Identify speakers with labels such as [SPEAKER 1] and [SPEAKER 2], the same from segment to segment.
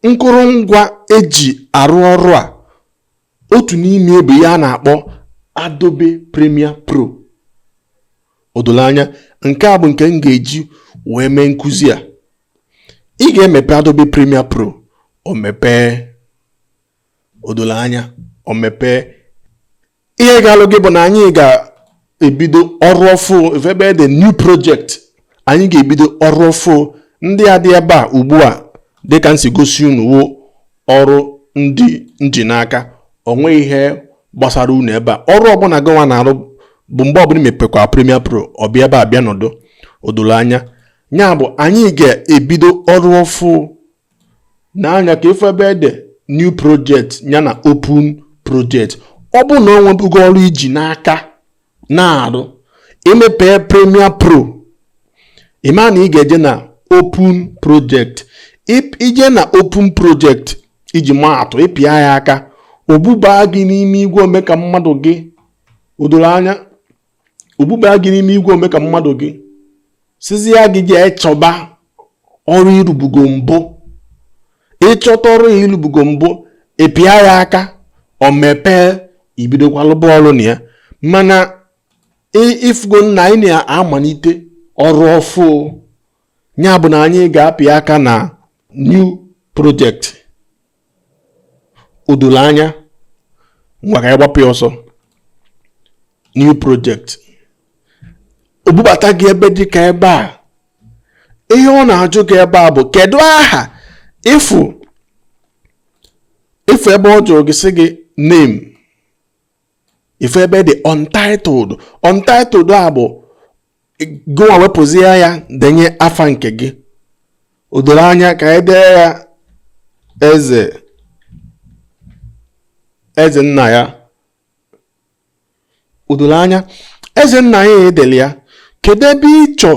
[SPEAKER 1] nkụrụngwa eji arụ ọrụ a otu n'ime bụ ihe a na-akpọ Adobe Premiere Pro o dolo anya nke a bụ nke m ga-eji wee mee nkụzi a ị ga-emepe Adobe Premiere Pro o mepee o dolo anya o mepee ihe ga-alụ gị bụ na anyị ga-ebido ọrụ ọfụ ịfụ ebe ede new project anyị ga-ebido ọrụ ọfụ ndị a dị ebe a ugbu a dịka nsi gosi unu wụ ọrụ ndị nji n'aka o nwe ihe gbasara unu ebe a ọrụ ọbụla gịnwa na-arụ bụ mgbe ọbụla i mepekwa Premier Pro ọ bịa ebe a bịa nọdụ odolo anya ya bụ anyị ga-ebido ọrụ ọfụ n'anya ka ịfụ ebe ede new project ya na open project ọ bụrụ na o nwebugo ọrụ iji n'aka na-arụ imepee premier pro ịma na ị ga-eje na open project ije na open project iji maa atụ ịpịa ya aka o bubaa gị n'ime igwe ome ka mmadụ gị odoro anya o bubaa gị n'ime igwe ome ka mmadụ gị sịzia gị jee chọba ọrụ ị rụbugo mbụ ịchọta ọrụ ị rụbugo mbụ ịpịa ya aka o mepee ibidokwa lụba ọrụ na ya mana ị fụgo na anyị na-amalite ọrụ ọfụ ya bụ na anyị ga-apịa aka na new project o doro anya ngwa ka anyị gbapụ ya ọsọ new project o bubata gị ebe dị ka ebe a ihe ọ na-ajụ gị ebe a bụ kedu aha ịfụ ịfụ ebe ọ jụrụ gị sị gị name ịfụ ebe ede untitled untitled a bụ gịnwa wepụzie ya denye afa nke gị o doro anya ka anyị dee ya eze nna ya o doro anya eze nna ya edele ya kedu ebe ịchọ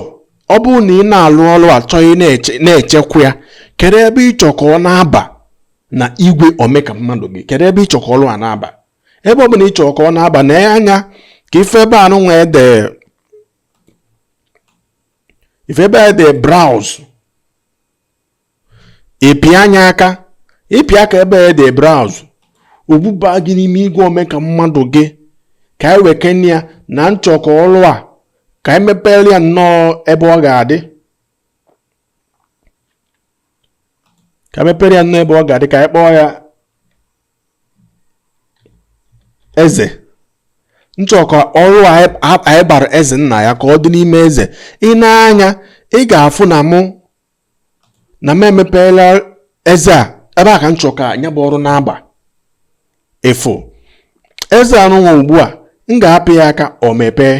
[SPEAKER 1] ọ bụrụ na ị na-alụ ọrụ a chọọ ị na-echekwa ya kedu ebe ịchọ ka ọ na-aba na igwe omeka mmadụ gị kedu ebe ịchọ ka ọrụ a na-aba ebe ọ bụla ị chọ ka ọ na-aba na anya ka ịfụ ebe a nụnwa ede ịfụ ebe a ede browse ịpịa nya aka ịpịa aka ebe a ede browse o bubaa gị n'ime igwe ome ka mmadụ gị ka anyị wekene ya na m chọ ka ọrụ a ka anyị mepere ya ụnọ ebe ọ ga-adị ka mepere ya ụnọ ebe ọ ga-adị ka anyị kpọọ ya eze m chọ ka ọrụ anyị bara eze nna ya ka ọ dị n'ime eze i nee anya ị ga-afụ na mụ na m emepeela eze a ebe a ka m chọ ka nya bụ ọrụ na-aba ị fụ eze anụnwa ugbu a m ga-apị ya aka o mepee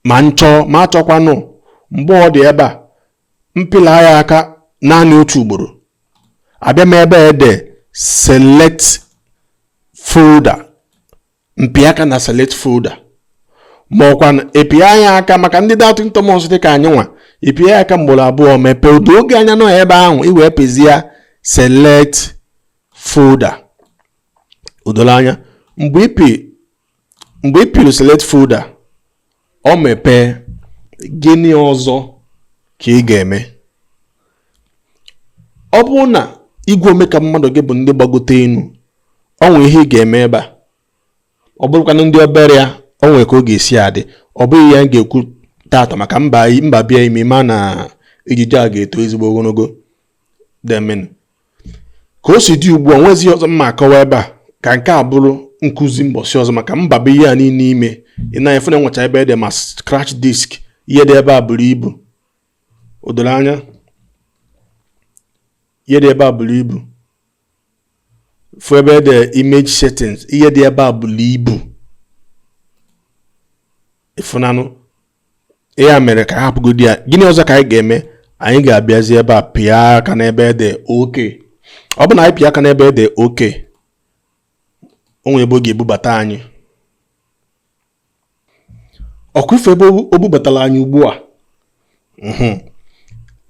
[SPEAKER 1] ma m chọọ ma achọkwanụ mgbe ọ dị ebe a m pịla ya aka naanị otu ugboro abịa m ebe e de select folder m pịa aka na select folder ma ọ kwa ị pịa ya aka maka ndị doubting Thomas dị ka anyị nwa ị pịa ya aka mgboro abụọ mepee o doo gị anya na ọ ebe ahụ i wee pịzie select folder o dola anya mgbe ị pị mgbe ị pịrị select folder o mepee gịnị ọzọ ka ị ga-eme ọ bụrụ na igwe ome ka mmadụ gị bụ ndị gbagote enu o nwee ihe ị ga-eme ebe a ọ bụrụkwanụ ndị obere ya o nwee ka ọ ga-esi adị ọ bụghị ya m ga-ekwu taata maka m baba ya ime ma na ejije a ga-eto ezigbo ogologo demen ka o si dị ugbu a nwezighị ọzọ m ma-akọwa ebe a ka nke a bụrụ nkụzi mbọsị ọzọ maka m babe ihe a niile ime ị na-afụ na e nwecha ebe e de ma scratch disk ihe dị ebe a buru ibu o doro anya ihe dị ebe a buru ibu ị fụ ebe e de image settings ihe dị ebe a buru ibu ị fụnanụ ya mere ka a hapụgodi ya gịnị ọzọ ka anyị ga-eme anyị ga-abịazi ebe a pịa aka n'ebe e de OK ọ bụ na anyị pịa aka n'ebe e de OK o nwere ebe ọ ga-ebubata anyị ọ kwa ị fụ ebe o bubatara anyị ugbu a mhm.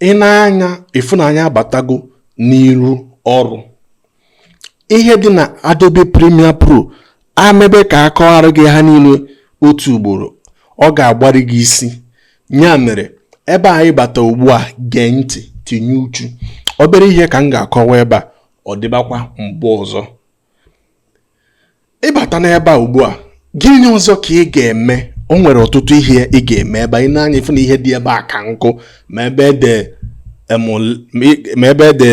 [SPEAKER 1] i nee anya ị fụ na anyị abatago n'iru ọrụ ihe dị na Adobe Premiere Pro e mebe ka a kọghara gị ha niile otu ugboro ọ ga-agbari gị isi ya mere ebe anyị bata ugbu a gee ntị tinye uchu obere ihe ka m ga-akọwa ebe a ọ dịbakwa mgbe ọzọ ị bata n'ebe a ugbu a gịnị ọzọ ka ị ga-eme o nwere ọtụtụ ihe ị ga-eme ebe a i nee anya ị fụ na ihe dị ebe a ka nkụ ma ebe e de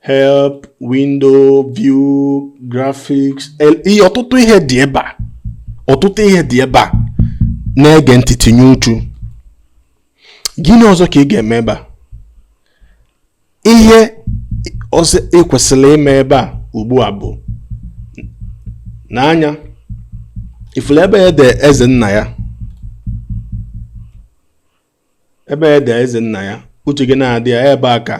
[SPEAKER 1] help window view graphics ihe ọtụtụ ihe dị ebe a ọtụtụ ihe dị ebe a na-ege ntị tinye uchu gịnị ọzọ ka ị ga-eme ebe a ihe ọzọ ị kwesịrị ime ebe a ugbu a bụ nee anya ị fụrụ ebe e de eze nna ya ebe ede eze nna ya uche gị na-adị ya ebe a ka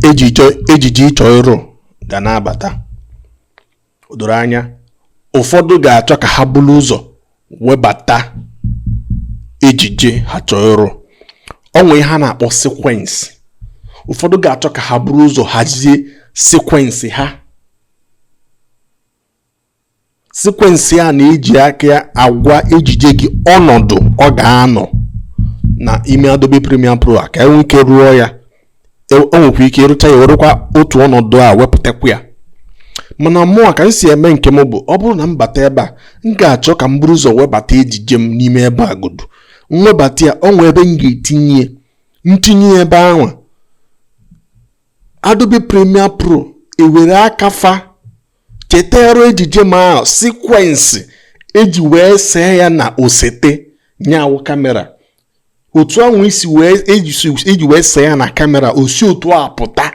[SPEAKER 1] ejije ị chọ ịrụ ga na-abata o doro anya ụfọdụ ga-achọ ka ha buru ụzọ webata ejije ha chọọ ịrụ o nwee ihe ha na-akpọ sequence ụfọdụ ga-achọ ka ha buru ụzọ hazie sequence ha sequence a na-eji aka agwa ejije gị ọnọdụ ọ ga-anọ na ime Adobe Premiere Pro a ka e nwee ike rụọ ya e, o nwekwa ike ịrụcha ya werekwa otu ọnọdụ a wepụtakwa ya mana mụọ ka m si eme nke m bụ ọ bụrụ na m bata ebe a m ga-achọ ka m buru ụzọ webata ejije m n'ime ebe a godu m webata ya o nwee ebe m ga-etinye m tinye ya ebe ahụ Adobe Premiere Pro ewere aka fa chetara ejije m ahụ sequence e ji wee see ya na osete nya wụ kamera otu ahụ e ji wee see ya na kamera o si otu a pụta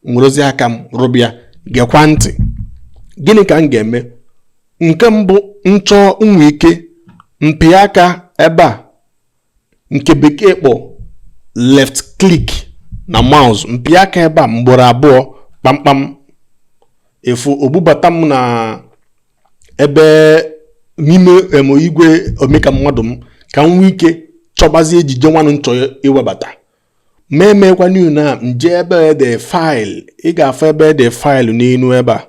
[SPEAKER 1] m werezie aka m rụba ya gekwa ntị gịnị ka m ga-eme nke mbụ m chọọ m nwee ike m pịa aka ebe a nke bekee kpọ left click na mouse m pịa aka ebe a mgboro abụọ kpamkpam ị fụ o bubata m na ebe n'ime em igwe ome ka mmadụ m ka m nwee ike chọbazie ejije nwanụ m chọ iwebata ma emekwanụ na m jee ebe ede file ị ga-afụ ebe ede file n'elu ebe a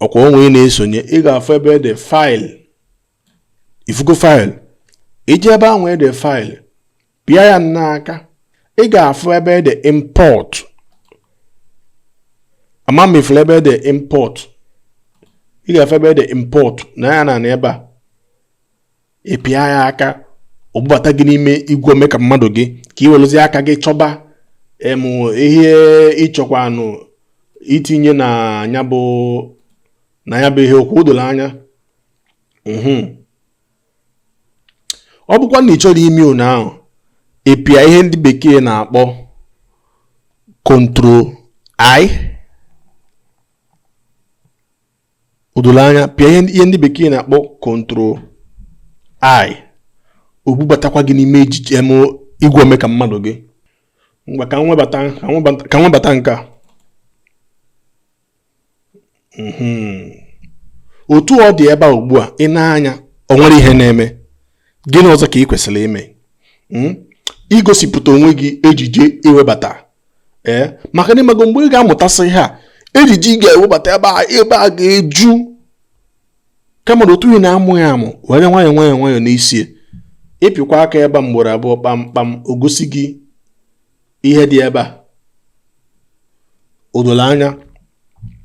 [SPEAKER 1] ọ kwa unu na-esonye ị ga-afụ ebe ede file ị fụgo file i jee ebe ahụ ede file pịa ya n'aka ị ga-afụ ebe ede import ama m ị fụrụ ebe ede import ị ga-afụ ebe ede import na ya na ebe a ị pịa ya aka o bubata gị n'ime igwe ome ka mmadụ gị ka ị werezie aka gị chọba em ihe ị chọkwanụ itinye na ya bụ na ya bụ ihe okwu o doro anya mhm. ọ bụkwa na ị chọrọ ime one ahụ ị pịa ihe ndị bekee na-akpọ control i o doro anya pịa ihe ndị bekee na-akpọ control i o bubatakwa gị n'ime ejije em igwe ome ka mmadụ gị ngwa ka m webata nke a hmm. otu ọ dị ebe a ugbu a i nee anya o nwere ihe na-eme gịnị ọzọ ka ị kwesịrị ime hmm? igosipụta onwe gị ejije i webata ee eh? maka na ịmago mgbe ị ga-amụtasị ihe a ejije ị ga-ewebata ebe a ebe a ga-eju kama na otu ị na-amụ ya amụ were nwayọọ nwayọọ nwayọọ n'isi ị pịkwa aka ebe a mgboro abụọ kpamkpam o gosi gị ihe dị ebe a o doro anya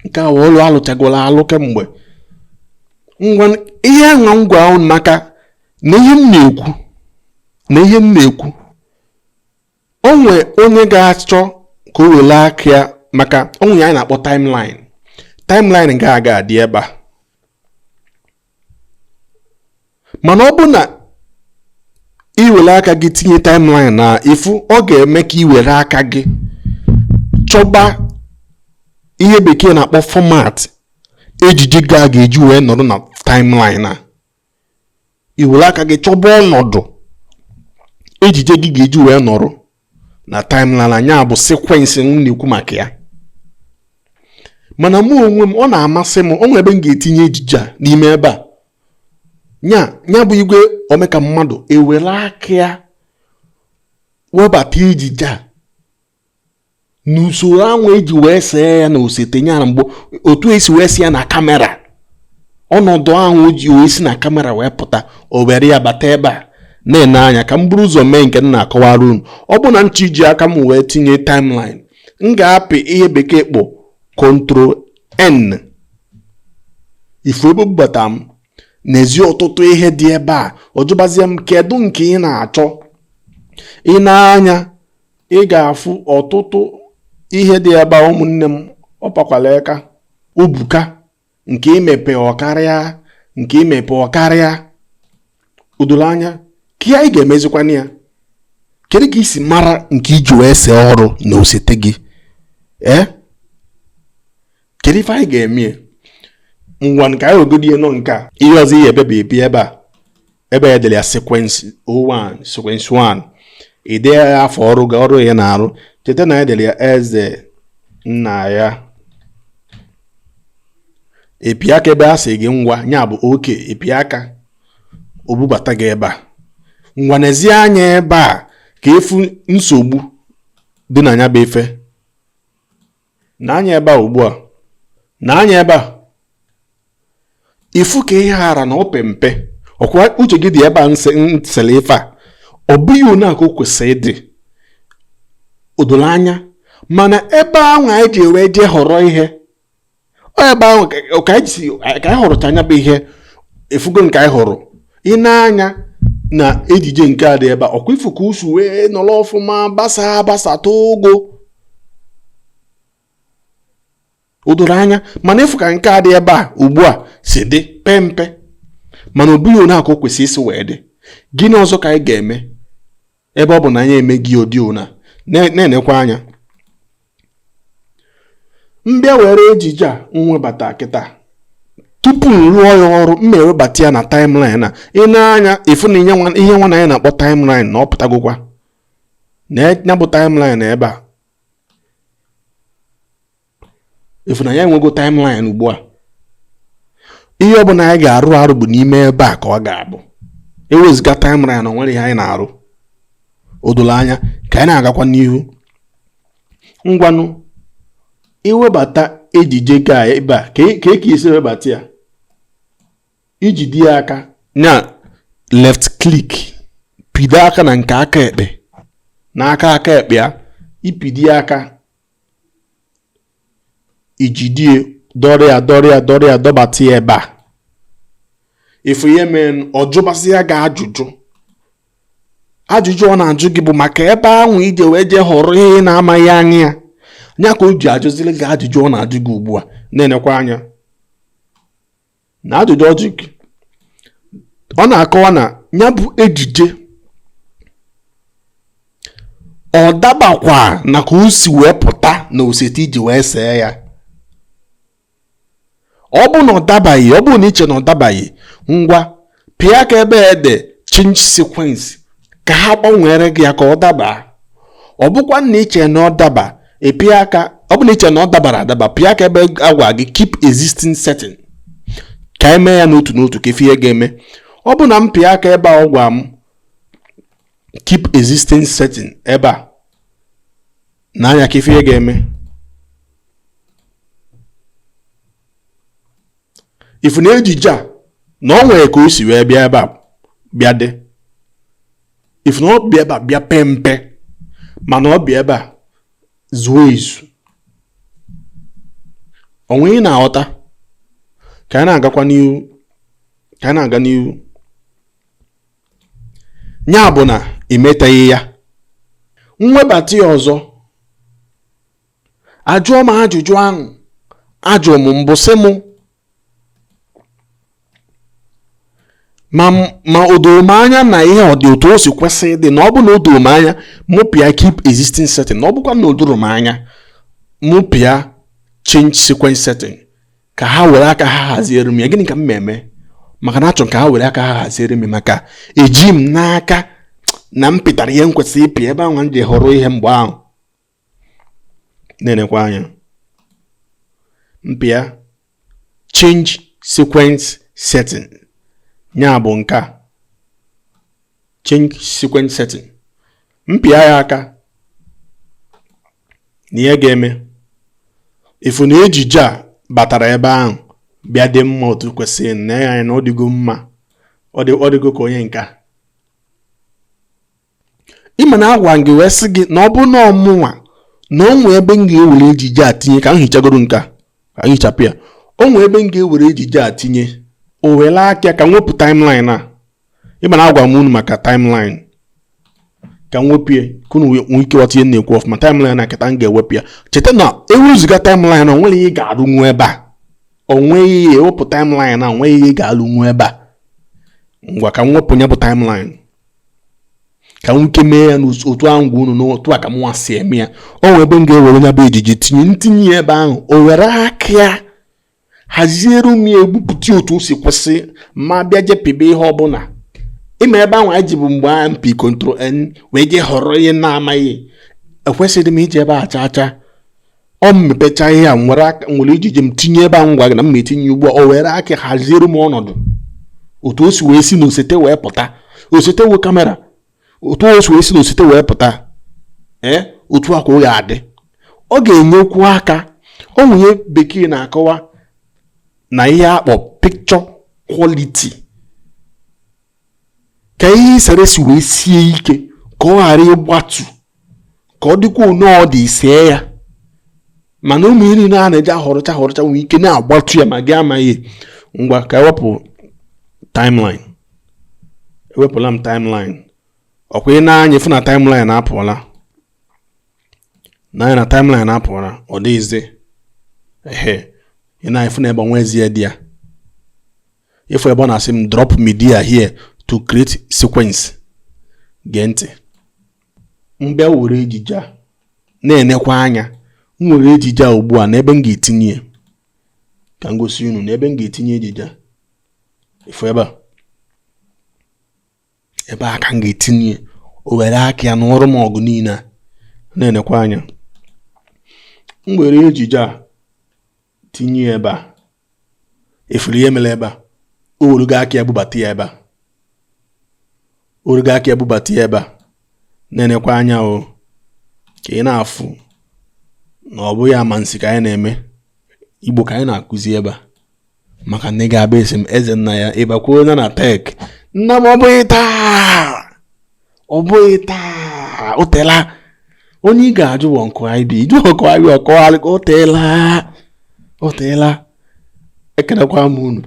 [SPEAKER 1] nke a bụ ọlụ alụchagoro alụ kemgbe ngwa ihe m na-agwa unu maka na ihe m na-ekwu na ihe m na-ekwu o nwee onye ga-achọ ka o were aka ya maka onwe ya anyị na-akpọ timeline timeline gị a ga-adị ebe a mana ọ bụ na i were aka gị tinye timeline a ị fụ ọ ga-eme ka i were aka gị chọba ihe bekee na-akpọ format ejije gị a ga-eji wee nọrọ na timeline a i were aka gị chọba ọnọdụ ejije gị ga-eji wee nọrọ na timeline a nya bụ sequence m na-ekwu maka ya mana mụ onwe m ọ na-amasị m o nwere ebe m ga-etinye ejije a n'ime ebe a nya nya bụ igwe o mee ka mmadụ ewere aka ya webata ejije a n'usoro anwa eji wee see ya na osete nyara mgbe otu esi wee see ya na kamera ọnọdụ ahụ ji wee si na kamera wee pụta o were ya bata ebe a neenụ anya ka m buru ụzọ mee nke m na-akọwara unu ọ bụ na m chọ iji aka m wee tinye timeline m ga-apị ihe bekee kpọ control n ị fụ ebe o bubata m neezie ọtụtụ ihe dị ebe a ọ jụbazie m kedu nke ị na-achọ i nee anya ị ga-afụ ọtụtụ ihe dị ebe a ụmụnne m akpakwala aka o buka nke i mepe ọ karịa nke i mepe ọ karịa o doro anya ka anyị ga-emezikwana ya kedu ka i si mara nke i ji wee see ọrụ na osete gị ee kedu ife anyị ga-eme ngwa ka anyị nọgodi na nke a ihe ọzọ ihe ebe bụ ebi ebe a ebe e dere ya sequence 01 sequence 1 i dee ya afa ọrụ gị a ọrụ ị na-arụ cheta na e dere ya eze nna ya ị pịa aka ebe a sị gị ngwa ya bụ ok ị pịa aka o bubata gị ebe a ngwa neezie anya ebe a ka ị fụ nsogbu dị na ya bụ ife nee anya ebe a ugbu a nee anya ebe a ifu ka ihe a ra na ọ pee mpe ọkwa uche gị dị ebe a nsele ife a ọ bụghị ọnwa ka o kwesịrị ịdị o doro anya mana ebe ahụ anyị ji wee jee họrọ ihe ebe ahụ ka anyị họrọcha nya bụ ihe ifugo nke anyị họrọ i nee anya na ejije nke a dị ebe a ọkwa ifu ka o si wee nọrọ ọfụma gbasa gbasa too ogo o doro anya mana ịfụ ka nke a dị ebe a ugbu a si dị pee mpe mana ọ bụghị ọnwa ka o kwesịrị isi wee dị gịnị ọzọ ka anyị ga-eme ebe ọ bụ na anyị emeghị ụdị ọnwa na-enekwa anya m bịa were ejije a m webata kịta tupu m rụọ ya ọrụ m ewebata ya na timeline a i nee anya ifu na ihe nwa na anyị na-akpọ timeline na ọ pụtagokwa na ya bụ timeline ebe a ifu na anyị enwego timeline ugbu a ihe ọ bụla anyị ga-arụ arụ bụ n'ime ebe a ka ọ ga-abụ iwezuga timeline na o nwere ihe anyị na-arụ o doro anya ka anyị na-agakwa n'ihu ngwanụ iwebata ejije gị ebe a ka eke e esi ewebata ya ijidi ya aka na left click pịdo aka na nke aka ekpe n'aka aka ekpe ya ịpịdị ya aka ijidie dọrọ ya dọrọ ya dọrọ ya dọbata ya ebe a ifu ihe mere ọ jụbazịa gị ajụjụ ajụjụ ọ na-ajụ gị bụ maka ebe ahụ iji wee jee họrọ ihe ị na-amaghị anya ya nya ka o ji ajụziri gị ajụjụ ọ na-ajụ gị ugbu a na-enekwa anya na ajụjụ ọ jụ gị ọ na-akọwa na ya bụ ejije ọ dabakwa na ka o si wee pụta na oseti iji wee see ya ọ bụ na ọ dabaghị ọ bụ na iche na ọ dabaghị ngwa pịa aka ebe ede change sequence ka ha gbanwere gị ya ka ọ daba ọ bụkwa na iche na ọ daba ịpịa aka ọ bụ na iche na ọ dabara adaba pịa aka ebe a gwa gị keep existing setting ka e mee ya n'otu n'otu ka ifu ihe ga-eme ọ bụ na m pịa aka ebe a gwa m keep existing setting ebe a nee anya ka ifu ihe ga-eme ifu na ejije a na ọ nwere ka o si wee bịa ebe a bịa dị ifu na ọ bịa ebe a bịa pee mpe mana ọ bịa ebe a zuo ezu onwe ị na-aghọta ka anyị na-agakwa n'ihu ka anyị na-aga n'ihu ya bụ na imetaghị ya m webata ya ọzọ ajụọ m ajụjụ ahụ ajụrụ m mbụ sị m ma o doro m anya na ihe ọ dị otu o si kwesị ịdị na ọ bụ na o doro m anya mụ pịa keep existing setting na ọ bụkwa na o doro m anya mụ pịa change sequence setting ka ha were aka ha haziere m ya gịnị ka m na-eme maka na achọrọ ka ha were aka ha haziere m maka eji m n'aka na m pịtara ihe m kwesịrị ịpị ebe ahụ m ji họrọ ihe mgbe ahụ na-enekwa anya m pịa change sequence setting nya bụ nke a change sequence setting m pịa ya aka na ihe ga-eme ị fụ na ejije a batara ebe ahụ bịa dị mma otu kwesịrị nee anya na ọ dịgo mma ọ dịgo ka onye nka ị ma na agwa m gị wee sị gị na ọ bụrụ na ọ mụnwa na o nwee ebe m ga-ewere ejije a tinye ka m hichagoro nke a ka m hichapụ ya o nwee ebe m ga-ewere ejije a tinye o were aka ka m wepụ timeline a ị ma na agwa m unu maka timeline ka m wepụ ya ka unu nwee ike ghọta ihe m na-ekwu ọfụma timeline a kịta m ga-ewepụ ya cheta na ewezuga timeline na o nwere ihe ị ga-arụnwu ebe a o nweghị ihe e wepụ timeline a o nweghị ihe ị ga-arụnwu ebe a ngwa ka m wepụ ya bụ timeline ka m nwee ike mee ya n'otu ahụ m gwa unu na otu a ka mụnwa si eme ya o nwee ebe m ga-ewere nya bụ ejije tinye m tinye ya ebe ahụ o were aka ya haziere m ya o bupụta otu o si kwesị ma bịa jepebe ihe ọbụla ị ma ebe ahụ anyị jebu mgbe a m pịa control n wee jee họrọ ihe na-amaghị ekwesịrị m ije ebe a chaa chaa ọ mepecha ihe a m were ejije m tinye ebe a m gwa gị na m etinye ugbu a o were aka haziere m ọnọdụ otu o si wee si na osete wee pụta osete wee kamera otu o si wee si na osete wee pụta ee otu a ka ọ ga-adị ọ ga-enyekwu aka o nwee ihe bekee na-akọwa na ihe akpọ picture quality ka ihe i sere si wee sie ike ka ọ ghara ịgbatu ka ọ dịkwa one ọ dị i see ya mana ụmụ ihe niile a na-eji ahọrọcha ahọrọcha nwee ike na-agbatu ya ma gị amaghị ngwa ka e wepụ timeline ewepụla m timeline ọkwa ị nee anya fụ na timeline apụọla nee anya na timeline apụọla ọ dịghịzi ehe ị na-afụ na ebe a o nwezi ihe dị ya ị fụ ebe ọ na-asị m drop media here to create sequence gee ntị m bịa were ejije a na-enekwa anya m were ejije a ugbu a n'ebe m ga-etinye ka m gosi unu n'ebe m ga-etinye ejije a ị fụ ebe a ebe a ka m ga-etinye o were aka ya nụọrọ m ọgụ niile a na-enekwa anya m were ejije a tinye ya ebe a ị fụrụ ihe mere ebe a o werugo aka ya bubata ya ebe a o werugo aka ya bubata ya ebe a na-enekwa anya o ka ị na-afụ na ọ bụghị amansi ka anyị na-eme Igbo ka anyị na-akụzi ebe a maka na ị ga-abịa ịsị m Ezennaya ị bakwuona na tek nna m ọ bụghị taa ọ bụghị taa o teela onye ị ga-ajụ bụ Uncle IB ị jụọ Uncle IB ọkọgharị o teela o teela ekelekwa m unu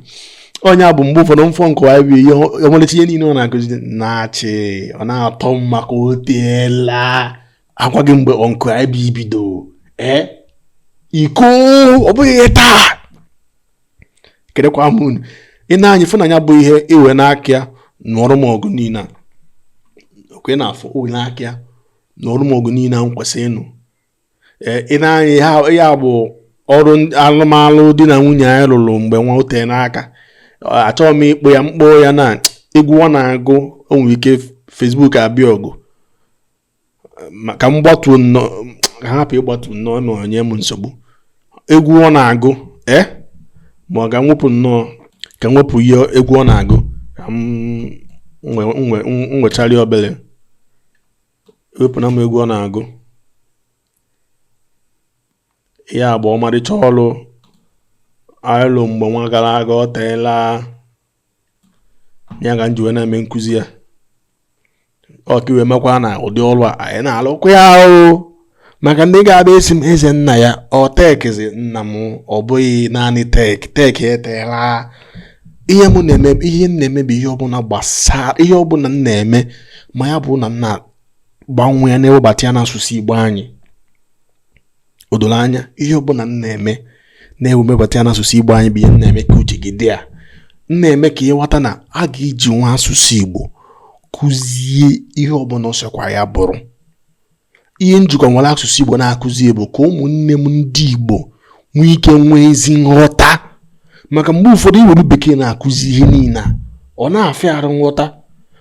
[SPEAKER 1] ọ nya bụ mgbe ụfọdụ m fụ Uncle IB ihe ọmalịcha ihe niile ọ na-akụzi na-achị ọ na-atọ m maka o teela a gwa gị mgbe Uncle IB bido ee iko ọ bụghị taa ekelekwa m unu i nee anya ị fụ na ya bụ ihe ewena aka ya nụọrọ m ọgụ niile a ọ kwa ị na-afụ o wena aka ya nụọrọ m ọgụ niile a m kwesịrị ịnụ ee i nee anya ya bụ ọrụ alụmalụ di na nwunye anyị lụrụ mgbe nwa o tena aka achọghị m ịkpọ ya m kpọọ ya na egwu ọ na-agụ o nwere ike Facebook abịa ọgụ ka m gbatuo nnọọ ka m hapụ ịgbatu nnọọ ma ọ nye m nsogbu egwu ọ na-agụ e ma ka m wepụ nnọọ ka m wepụ ihe egwu ọ na-agụ ka m nwechari obere ewepụna m egwu ọ na-agụ ya bụ ọmarịcha ọrụ a lụ mgbe nwa gara aga o teela ya ka m ji wee na-eme nkụzi ya ọ ka i wee makwa na ụdị ọrụ a anyị na-alụkwa ya ahụ maka ndị ga-abịa ịsị m Ezennaya ọ tekzi nna m ọ bụghị naanị tek tek eteela ihe m na-eme ihe m na-eme bụ ihe ọbụla gbasara ihe ọbụla m na-eme ma ya bụ na m na-agbanwe ya na-ewebata ya n'asụsụ Igbo anyị o doro anya ihe ọbụla m na-eme na-ewebata ya n'asụsụ Igbo anyị bụ ihe m na-eme ka uche gị dị ya m na-eme ka ị ghọta na a ga-ejinwu asụsụ Igbo kụzie ihe ọbụla ọ sọkwa ya bụrụ ihe m jikwa were asụsụ Igbo na-akụzi bụ ka ụmụnne m ndị Igbo nwee ike nwee ezi nghọta maka mgbe ụfọdụ iwere bekee na-akụzi ihe niile a ọ na-afịa arụ nghọta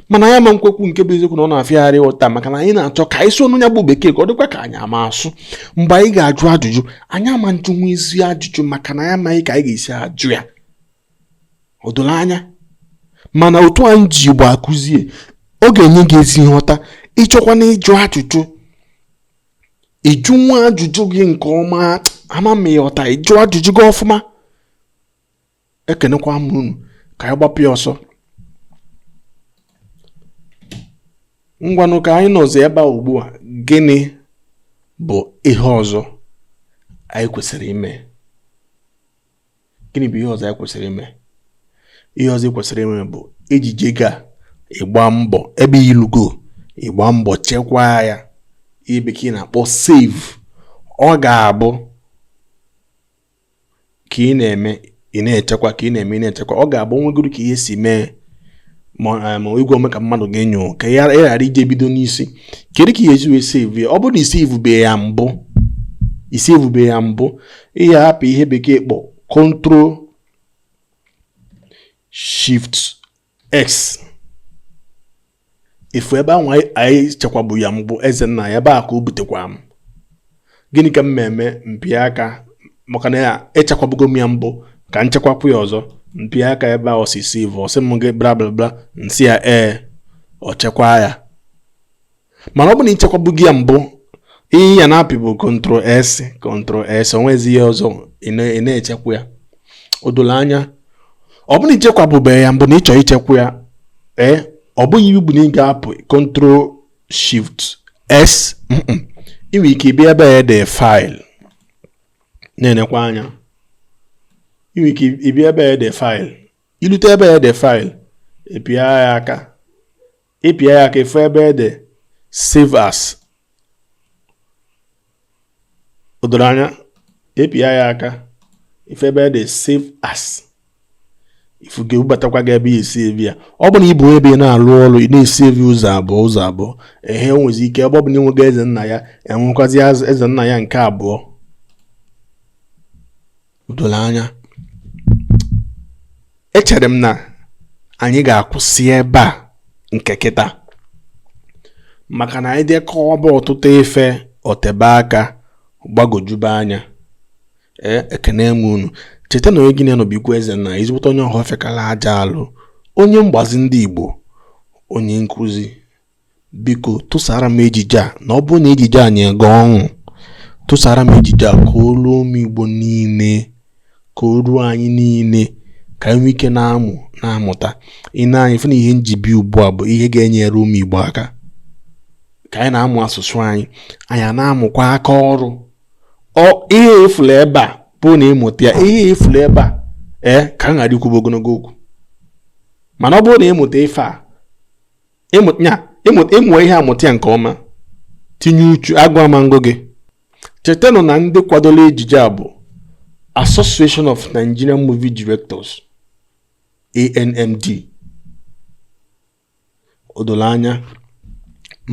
[SPEAKER 1] mana ya ma nkwekwu nke bụ eziokwu na ọ na-afịa arụ nghọta maka na anyị na-achọ ka anyị sụọnụ ya bụ bekee ka ọ dịkwa ka anyị ama asụ mgbe anyị ga-ajụ ajụjụ anyị ama ajụnwu ezi ajụjụ maka na anyị amaghị ka anyị ga-esi ajụ ya o doro anya mana otu anyị ji igbo akụzie ọ ga-enye gị ezi nghọta ịchọkwanụ ịjụ ajụjụ ịjụnwuo ajụjụ gị nke ọma ama m ịghọta ịjụ ajụjụ gị ọfụma ekenekwa m unu ka anyị gbapụ ya ọsọ ngwanụ ka anyị nọzi ebe a ugbu a gịnị bụ ihe ọzọ anyị kwesịrị ime gịnị bụ ihe ọzọ anyị kwesịrị ime ihe ọzọ i kwesịrị ime bụ ejije ga ịgba mbọ ebe ilugo ịgba mbọ chekwaa ya ihe bekee na-akpọ save ọ ga-abụ ka ị na-eme ị na-echekwa ka ị na-eme ị na-echekwa ọ ga-abụ o nwegodu ka ihe si mee ma eh, igwe ome ka mmadụ gị anyụọ ka ị ghara ije bido n'isi kedu ka ị ya-esi wee save ya ọ bụrụ na ị savebe ya mbụ ị savebe ya mbụ ị ya-apị ihe bekee kpọ control shift x ifu ebe ahụ anyị chekwabu ya mbụ ezennaya ebe a ka o butekwa m gịnị ka m na-eme mpịa aka maka na echekwabugo m ya mbụ ka m chekwakwuo ya ọzọ mpịa aka ebe a ọ sị save ọ sị m gị bla bla bla nsị ya ee ọ chekwaa ya mana ọ bụ na ichekwabugo ya mbụ ihe ị ya na-apị bụ control s control s onwezi ihe ọzọ ị na-echekwa ya o doro anya ọ bụ na ichekwabube ya mbụ na ịchọ ichekwa ya ee ọ bụghị iwu bụ na ị ga-apị control shift s ị nwere ike ịbịa ebe ede file na-enekwa anya ị nwere ike ịbịa ebe ede file ilute ebe ede file ịpịa ya aka ịpịa ya aka ịfụ ebe ede save as o doro anya ịpịa ya aka ịfụ ebe ede save as ifu ga-ebubatakwa gị ebe ị ya-esave ya ọ bụ na ịbụ ebe ị na-alụ ọrụ ị na-esave ụzọ abụọ ụzọ abụọ ehe i nwezi ike ebe ọ bụ na ịnwego ezennaya enwekwazi ezennaya nke abụọ o doro anya echere m na anyị ga-akwụsị ebe a nke kịta maka na anyị dekọwaba ọtụtụ ife otebe aka gbagojube anya ee ekene m unu cheta na onye gị na ya nọ bụkwa ezenna ezigbote onye ọhụrụ fekala aja alụ onye mgbazi ndị Igbo onye nkụzi biko tụsara m ejije a na ọ bụrụ na ejije a nye gị ọṅụ tụsara m ejije a ka o ruo ụmụ Igbo niile ka o ruo anyị niile ka anyị nwee ike na-amụ na-amụta ị na-anyị fụ na ihe m ji bịa ugbu a bụ ihe ga-enyere ụmụ Igbo aka ka anyị na-amụ asụsụ anyị anyị na-amụkwa aka ọrụ ihe ị fụlụ ebe a ọ bụrụ na ị mụta ya ihe ị fụlụ ebe a ee ka m ghara ikwube ogologo okwu mana ọ bụrụ na ị mụta ife a ị mụa ihe a mụta ya nke ọma tinye uchu agụụ ama agụ gị chetanụ na ndị kwadolu ejije a bụ Association of Nigerian Movie Directors ANMD o doro anya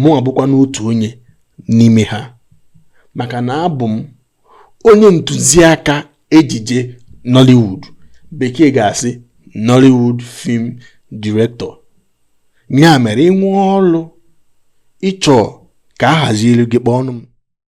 [SPEAKER 1] mụwa bụkwanụ otu onye n'ime ha maka na abụ m onye ntụziaka ejije Nollywood bekee ga-asị Nollywood film director ya mere i nwee ọlụ ị chọọ ka a hazielu gị kpọọnụ m